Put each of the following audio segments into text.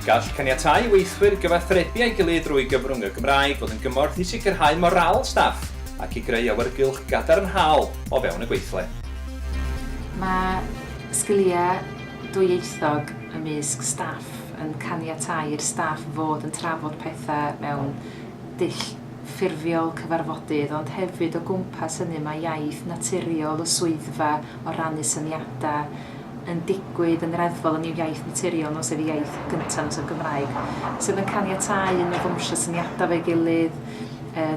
Gall caniatáu i weithwyr gyfathrebu â'i gilydd drwy gyfrwng y Gymraeg fod yn gymorth i sicrhau morâl staff ac i greu awyrgylch gadarnhaol o fewn y gweithle. Mae sgiliau dwyieithog ymysg staff yn caniatáu i'r staff fod yn trafod pethau mewn dull ffurfiol cyfarfodydd, ond hefyd o gwmpas hynny mae iaith naturiol y swyddfa o rannu syniadau yn digwydd yn reddfol yn i'w iaith naturiol nos ef ei iaith gyntaf nos ef Gymraeg sydd yn caniatáu i ni ddawnsio syniadau efo'i gilydd,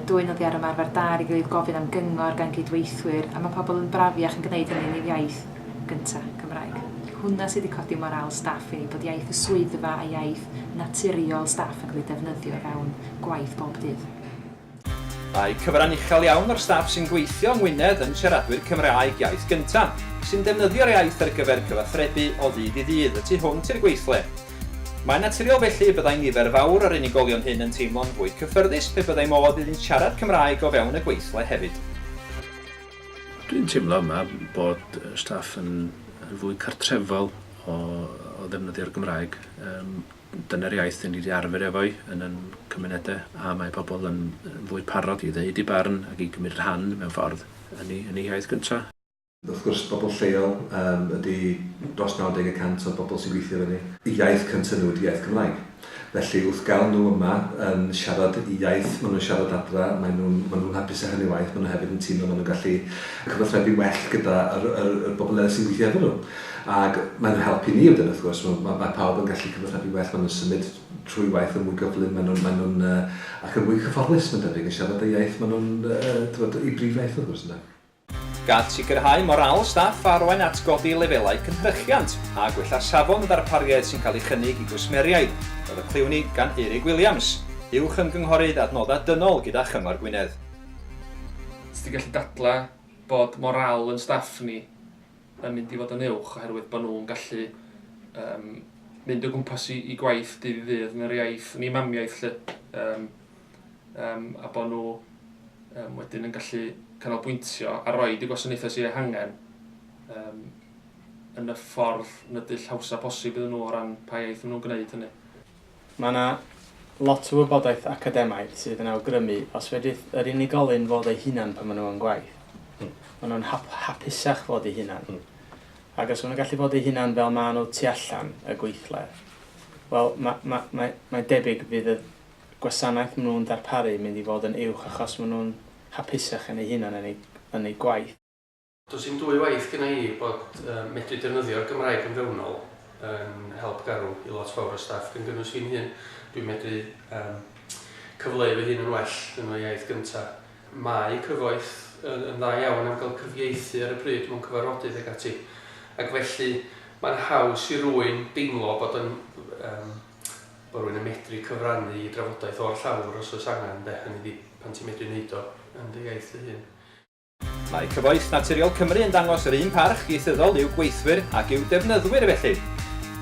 dwyn oddi ar ymarfer da ar ei gilydd, gofyn am gyngor gan gydweithwyr a mae pobl yn brafiach yn gwneud hynny yn i'w iaith. gynta, Cymraeg. Hwnna sydd wedi codi morâl staff i, bod iaith y swyddfa a iaith naturiol staff yn cael ei defnyddio o fewn gwaith bob dydd. Mae cyfran uchel iawn o'r staff sy'n gweithio yng Ngwynedd yn siaradwyr Cymraeg iaith gynta, sy'n defnyddio'r iaith ar gyfer cyfathrebu o ddydd i ddydd y tu hwnt i'r gweithle. Mae'n naturiol felly y byddai nifer fawr o'r unigolion hyn yn teimlo'n fwy cyffyrddus pe byddai modd iddynt siarad Cymraeg o fewn y gweithle hefyd. Dwi'n teimlo yma bod staff yn yn fwy cartrefol o o ddefnyddio'r Gymraeg. Yym dyna'r iaith 'yn ni 'di arfer efo'i yn 'yn cymunede a mae pobl yn yn fwy parod i ddeud 'u barn ac i gymryd rhan mewn ffordd yn 'u yn 'u hiaith gynta. Wrth gwrs bobl lleol yym ydi dros 90 y cant o'r bobl sy'n gweithio efo ni. Y iaith cynta nhw ydi iaith Cymraeg. Felly wrth gael nhw yma yn siarad y iaith maen nhw'n siarad adra, maen nhw'n maen nhw'n hapus â hynny waeth, maen nhw hefyd yn teimlo maen nhw'n gallu cyfathrebu well gyda yr yr yr bobl eraill sy'n gweithio efo nhw. Ag maen nhw'n helpu ni wedyn wrth gwrs, ma' ma' ma' pawb yn gallu cyfathrebu well, maen nhw'n symud trwy waith yn mwy gyflym, maen nhw'n maen nhw'n yy ac yn mwy cyfforddus mae'n debyg yn siarad y iaith maen nhw'n yy t'mod 'u brif iaith wrth gwrs ynde? Gan sicrhau morâl staff a arwain at godi lefelau cynhyrchiant a gwella safon y ddarpariaeth sy'n cael ei chynnig i gwsmeriaid, roedd y clywn i gan Eurig Williams, Uwch Ymgynghorydd Adnoddau Dynol gyda Chyngor Gwynedd. Os ti'n gallu dadlau bod morâl ein staff ni yn mynd i fod yn uwch oherwydd bod nhw'n gallu yym mynd o gwmpas i gwaith dydd i ddydd yn yr iaith, yn eu mamiaith 'lly, yym. um, a bod nhw um, wedyn yn gallu canolbwyntio a roi y gwasanaethau sy'n ei hangen um, yn y ffordd yn y dull hawsa posib iddyn nhw o ran pa iaith maen nhw'n gwneud hynny. Mae yna lot o wybodaeth academaidd sydd yn awgrymu os fedrith yr unigolyn fod ei hunan pan maen nhw'n gwaith. Mm. Maen nhw'n hap, hapusach fod ei hunan. Mm. Ac os maen nhw'n gallu bod ei hunan fel maen nhw tu allan y gweithle, wel, mae ma, ma, ma debyg fydd y gwasanaeth maen nhw'n ddarparu mynd i fod yn uwch achos maen nhw'n hapusach yn eu hunan yn eu yn eu gwaith. Does dim dwy waith gynna i bod medru defnyddio'r Gymraeg yn fewnol yn help garw i lot fawr o staff gan gynnwys fi'n hun. Dwi'n medru yym cyfleu fy hun yn well yn fy iaith gynta. Mae cyfoeth yn yn dda iawn am gael cyfieithu ar y pryd mewn cyfarfodydd ag ati ac felly mae'n haws i rwyn deimlo bod yn yym bod rhywun yn medru cyfrannu i drafodaeth o'r llawr os oes angen de, hynny ydi pan ti'n medru wneud o yn dy iaith dy hun. Mae Cyfoeth Naturiol Cymru yn dangos yr un parch ieithyddol i'w gweithwyr ac i'w defnyddwyr felly,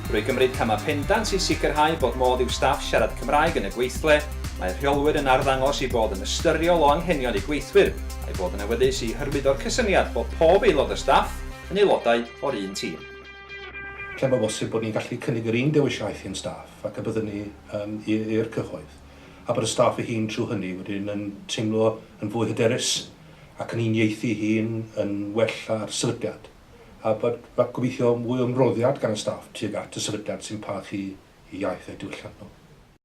drwy gymryd camau pendant i sicrhau bod modd i'w staff siarad Cymraeg yn y gweithle, mae'r rheolwyr yn arddangos eu bod yn ystyriol o anghenion eu gweithwyr a'u bod yn awyddus i hyrwyddo'r cysyniad bod pob aelod o staff yn aelodau o'r un tîm. Lle mae'n bosib bod ni'n gallu cynnig yr un dewis iaith i'n staff ac y byddwn ni yn i'r cyhoedd, a bod y staff ei hun trwy hynny wedyn yn teimlo yn fwy hyderus ac yn uniaethu ei hun yn well â'r sefydliad, a bod, gobeithio, mwy o ymroddiad gan y staff tuag at y sefydliad sy'n parchu eu iaith a'u diwylliant nhw.